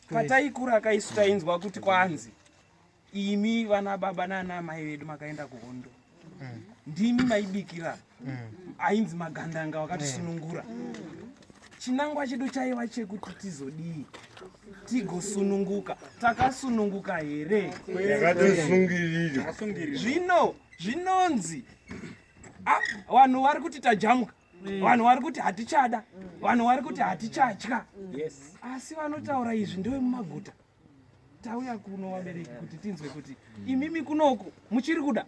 pataikura kaisu tainzwa kuti kwanzi imi vana baba nana amai vedu makaenda kuhondo mm. ndimi maibikira mm. ainzi magandanga wakatisunungura mm. chinangwa chedu chaiva chekuti tizodii tigosununguka takasununguka here zvino zvinonzi ah, vanhu vari kuti tajamuka Mm. vanhu vari kuti hatichada vanhu vari kuti hatichatya asi vanotaura izvi ndevemumaguta tauya kuno vabereki kuti tinzwe kuti imimi kunoku muchiri kuda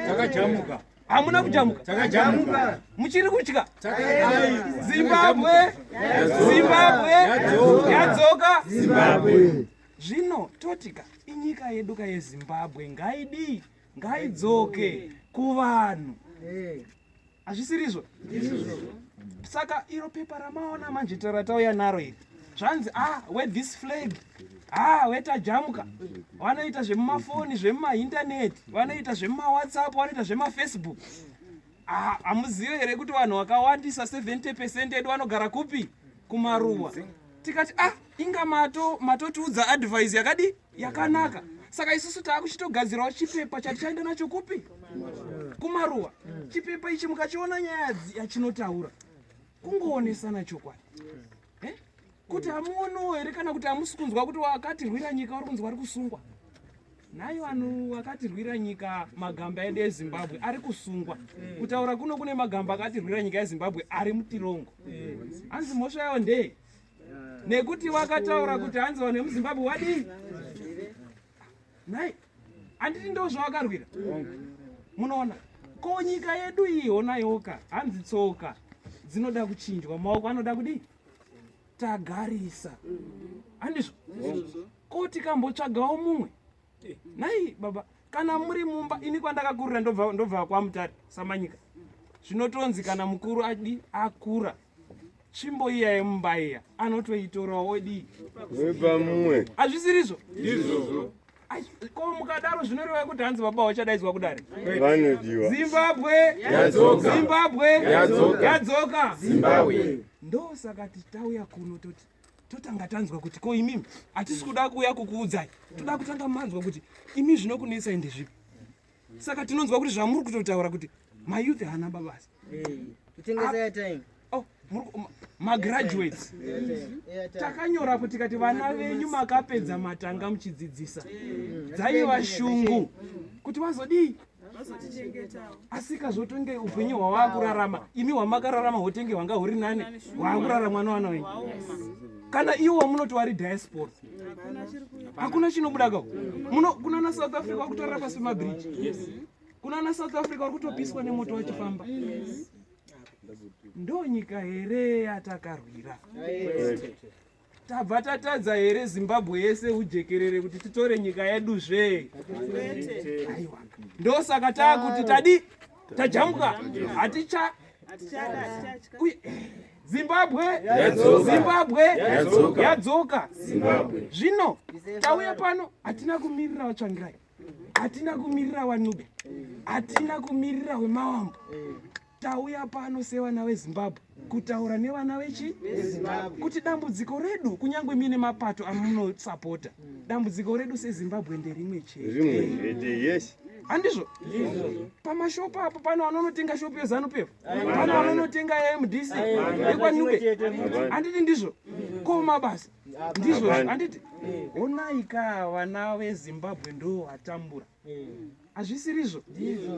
takajamuka hamuna kujamuka takajamuka muchiri kutya zimbabwe zimbabwe yadzoka zimbabwe zvino totika inyika yedu ka yezimbabwe ngaidii ngaidzoke kuvanhu hazvisirizvo saka iro pepa ramaona manje taratauya naro iri zvanzi ah we this flag ah wetajamuka vanoita zvemumafoni zvemumaintaneti vanoita zvemumawhatsapp vanoita zvemafacebook ah, hamuzive here kuti vanhu vakawandisa 70 pecent edu vanogara kupi kumaruwa tikati ah inga mato matotiudza advise yakadii yakanaka saka isusu taakuchitogadzirawo chipepa chatichaenda nacho kupi kumaruwa chipepa ichi mukachiona nyaya yachinotaura kungoonesana chokwadi eh? kuti hamuonowo here kana kuti hamusi kunzwa kuti wakatirwira nyika wari kunzi wari kusungwa nhai vanhu vakatirwira nyika magamba edu ezimbabwe ari kusungwa kutaura kuno kune magamba akatirwira nyika yezimbabwe ari mutirongo hanzi mhosva yawo ndeye nekuti wakataura kuti hanzi vanhu vemuzimbabwe wadii nhai handiti ndo zvawakarwira munoona ko nyika yedu iyi honayoka hanzi tsoka dzinoda kuchinjwa maoko anoda kudii tagarisa handizvo ko tikambotsvagawo mumwe Nai baba kana muri mumba ini kwandakakurira ndobva ndobva kwamutari samanyika zvinotonzi kana mukuru adi akura tsvimbo iya yemumba iya anotoitorawo odii wepamumwe hazvisirizvo izvozvo ko mukadaro zvinoreva kuti hanzi baba wachadaidzwa kudare vanodiwa zimbabwe Yadzoka. zimbabwe Yadzoka. yadzoka zimbabwe ndosaka tichitauya kuno toti totanga tanzwa kuti ko imimi hatisi kuda kuuya kukuudzai toda kutanga manzwa kuti imi zvinokunetsa ende zvipi saka tinonzwa kuti zvamuri kutotaura kuti mayouth haana babasa oh, magraduates takanyora kuti kati vana venyu makapedza matanga muchidzidzisa dzaiva shungu kuti vazodii asika zvotenge upenyu hwawaakurarama imi hwamakararama hotenge hwanga huri nani waakurara mwana wana wenyu kana iwo wamunoti wari diaspora hakuna chinobuda ka kunana south africa wari kutorara pasi pemabridge kunana south africa wari kutopiswa nemoto wachifamba ndonyika here yatakarwira tabva tatadza here zimbabwe yese ujekerere kuti titore nyika yedu zve ndosaka taakuti tadi tajambwa haticha zimbabwe zimbabwe yadzoka zvino tauya pano hatina kumirira vatsvangirai hatina kumirira wanube hatina kumirira wemawambo tauya pano sevana vezimbabwe kutaura nevana vechi kuti dambudziko redu kunyange mine mapato amunosapota dambudziko redu sezimbabwe nderimwe chete yes handizvo pamashopu apo pano vanonotenga shopu yezanu pepo pano vanonotenga yamdc yekwanube handiti ndizvo ko mabasa ndizvo handiti eh. honai ka vana vezimbabwe ndo vatambura eh. hazvisirizvo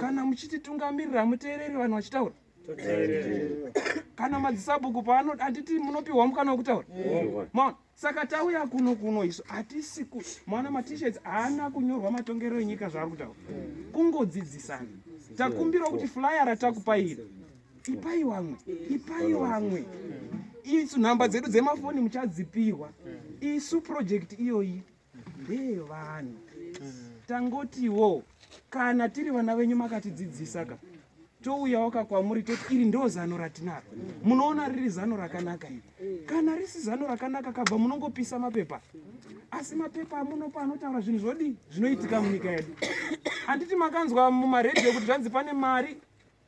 kana muchititungamirira muteereri vanhu vachitaura kana madzisabhuku paano handiti munopiwa mukana wekutaura maona saka tauya kuno kuno isu hatisi ku maona matishets haana kunyorwa matongerero enyika zvaari kutaura eh. kungodzidzisana takumbirawo kuti flyara takupaira tipai wamwe ipai wamwe isu nhamba dzedu dzemafoni muchadzipihwa isu project iyoyi ndeyevanhu tangotiwo kana tiri vana venyu makatidzidzisa ka touyawo ka kwamuri toti iri ndo zano ratinaro munoona riri zano rakanaka iri kana risi zano rakanaka kabva munongopisa mapepa asi mapepa amunopa anotaura zvinhu zvodii zvinoitika munyika yedu handiti makanzwa mumaredhiyo kuti zvanzi pane mari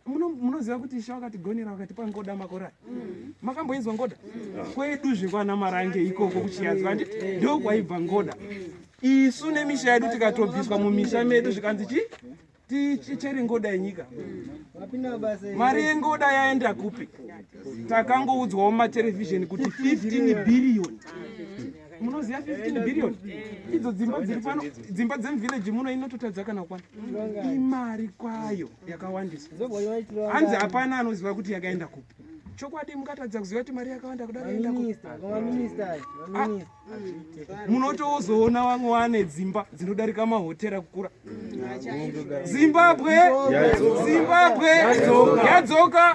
munoziva kuti ishe wakatigonera wakatipa ngoda makore aya mm. makamboinzwa ngoda mm. kwedu zvekwana marange ikoko kuchiyazi vandi mm. ndo kwaibva ngoda isu nemisha yedu tikatobviswa mumisha medu zvikanzi chi tichere ngoda yenyika mari yengoda yaenda kupi takangoudzwawo mumaterevhizheni kuti 15 bhiriyoni munoziva 15 bhiriyoni idzo dzimba dziri pano dzimba dzemuvhileji muno inototadza kana kwana imari kwayo yakawandisa hanzi hapana anoziva kuti yakaenda kupi chokwadi mungatadza kuziva kuti mari yakawanda kudamunotozoona ah. vamwe wane dzimba dzinodarika mahotera kukura zimbabwe zimbabwe yadzoka